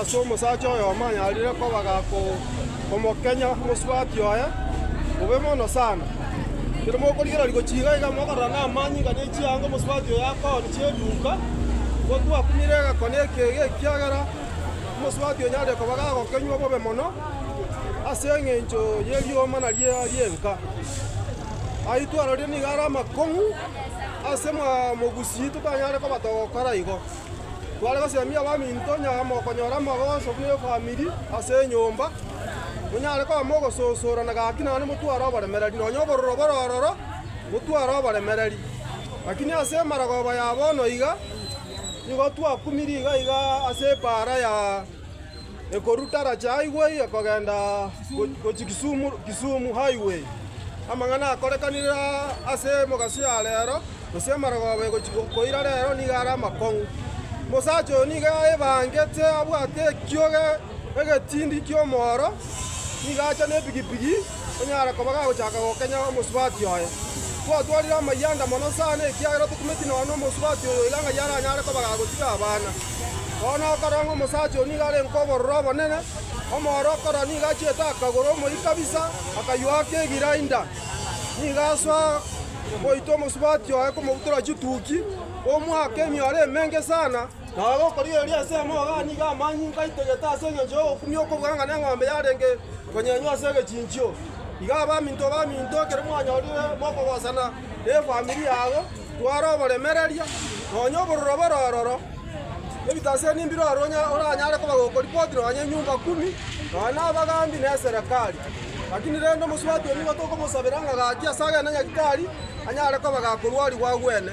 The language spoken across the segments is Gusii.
ase omosacha oyo omanyarire koba gakomokenya omosubati oye bobe mono sana. Ekero mokorigereria gochia iga iga mokorora namanyinga ne chianga omosubati oyo akooni chi'eduuka, gotwakumire egekone eke ege, ekiagera omosubati onyarire koba gagokenywa bobe mono ase eng'encho ye rioma naria ri'enka. Ayio twarorire nigo are amakong'u ase mogusii totanyare koba togokora igo. Tware gosiemia abaminto nyara mokonyora amagoso buna efamiri ase enyomba, monyare koba mogososorana gaki naende motware oboremereri, nonya obororo bore ororo motware oboremereri. Lakini ase emaragoba ya bono iga nigo twakumirie iga iga ase epaara ya. Ekoru Tarachi Highway ekogenda gochia Kisumu, Kisumu Highway. Amang'ana akorekanire aa ase emogaso ya rero, gose amarogoba egochia koira rero nigo are amakong'u. Omosacha oyo nigo aebangete abwate ekioge egetindi ki'omooro, nigo acha nepigipigi, Onye are koba gagochaka gokenya omosubati oye, twatwarire amayanda mono sana, ekiagera tokumeti nonya nomosubati oyo iga ng'ai aranyare koba gagotiga abana. Bono okorora ng'a omosacha oyo nigo are nkobororo obonene, omooro okorora nigo achiete akagoro omoyio kabisa, akaywoa ake egirainda, nigo asoa goita omosubati oye komobutora chituki, omoake emioro emenge sana. Naro okorigereria ase amaogo aa nigo amanyinga ngaitegete ase engencho y'ogokumia okobua ng'a neng'ombe yarenge konyenywa ase egechinchio. Iga abaminto baminto, ekero mwanyorire mokogosana nefamiri yago, twara oboremereria, nonya obororo bore ororo, ebitaseni mbire ore oranyare koba gokoripoti nonya enyumba kumi, nonya nabagambi na eserekari. Lakini rende omosubati oyo nigo tokobosabera ng'a gaki ase agene Nyagetari anyare koba gakorwarigwa agwene.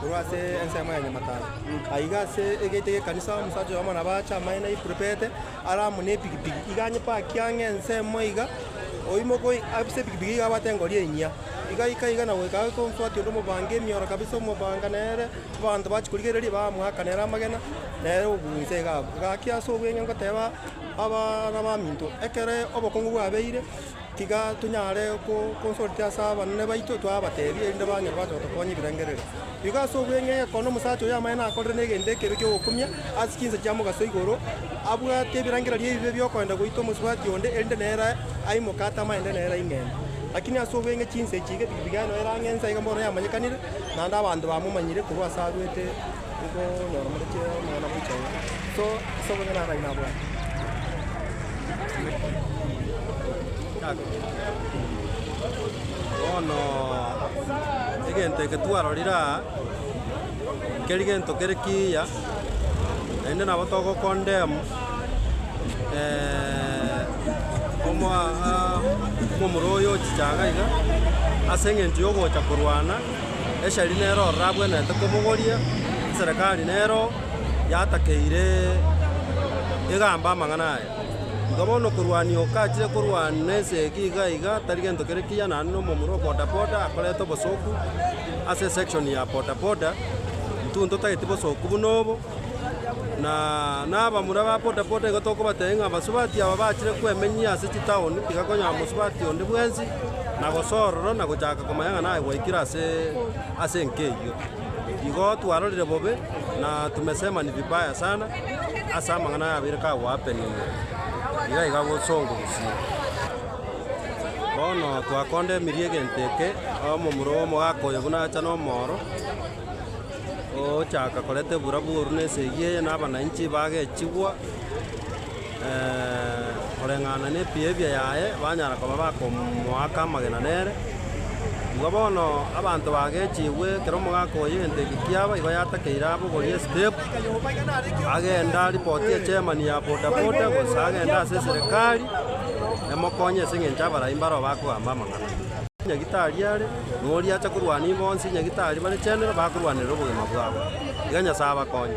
Korwa ase ensemo ya nyamataro aiga ase egeita gi'ekanisa, omosacha oyomo nabo ache amaene aipurupete, are amo nepigipigi, iga anyepaki ang'e ensemo iga, oimoke oyi ase epigipigi iga abwate engori enyia, iga aika iga na goika aase omosubati onde omobange emioro kabisa omobanga nere, abanto bachia korigereria bamoaka nere amagena, nere obuya inse iga abwo. Gaki ase obweng'e ngoteba abana baminto, ekere obokongu bwabeire. Tiga tonyare gokonsortia ase abanene baito, twabateebie, erinde banyore bache gotokonya ebirengererio. Igo ase obweng'ee egekondo omosacha oyo amaene nakorire negento ekebe gi'ogokumia ase chinsa chia mogaso igoro, abwate ebirengererio ebibe bi'okoenda goita omosubati onde, erinde nere aimoke atamaete nere aing'ende. Lakini ase obweng'e chinsa echi igepikipiki yaye noyo erang'ensa, iga bono yamanyekanire, naende abanto bamomanyire korwa ase arwete. Bono egento eke twarorire aa, keri gento kere kiya, naende nabo togokondemu omoa- a- omomura oyo ochichaga iga, aseng'encho yogocha korwana. Eshari nero ororabwenerete kobogoria, eserekari nero yatakeire egamba amang'ana aya. Igo bono korwania okachire korwana na ense eke iga iga tari gento kere kiya naende na omomura o bodaboda akorete obosoku ase esection ya bodaboda, intwe ntotageti bosoku buna obo. Na nabamura ba bodaboda igo tokobatebia ng'a abasubati aba bachire kwemenyia ase chitaoni, tiga konyora mosubati onde bwensi na gosorora na gochaka komanya ng'a naye gwaikire ase ase enka eyio. Igo twarorire bobe na tumesema ni vibaya sana ase amang'ana aya abeire ka go happen iga iga bosongo gusii. Bono twakondemerie egento eke, omomura oyo omogaka oyo buna acha na omooro. Ogochaka koreta ebura bw'oru na esegi eye na abananchi bagechigwa koreng'ana nebiebia yaye, banyara koba bakomoaka amagena nere. Igo bono abanto bagechigwe, ekero omogaka oyo egento eke kiaba, igo yatakeire abogorie estep, agenda aripoti echemani ya boda boda, gose agende ase eserekari emokonye ase eng'encho abarai mbaro bakogamba amang'ana. Nyagetari are. noria acha korwa ninwe bonsi, nyagitari bare chenero bakorwanerera obogima bwabo. Iga Nyasae abakonye.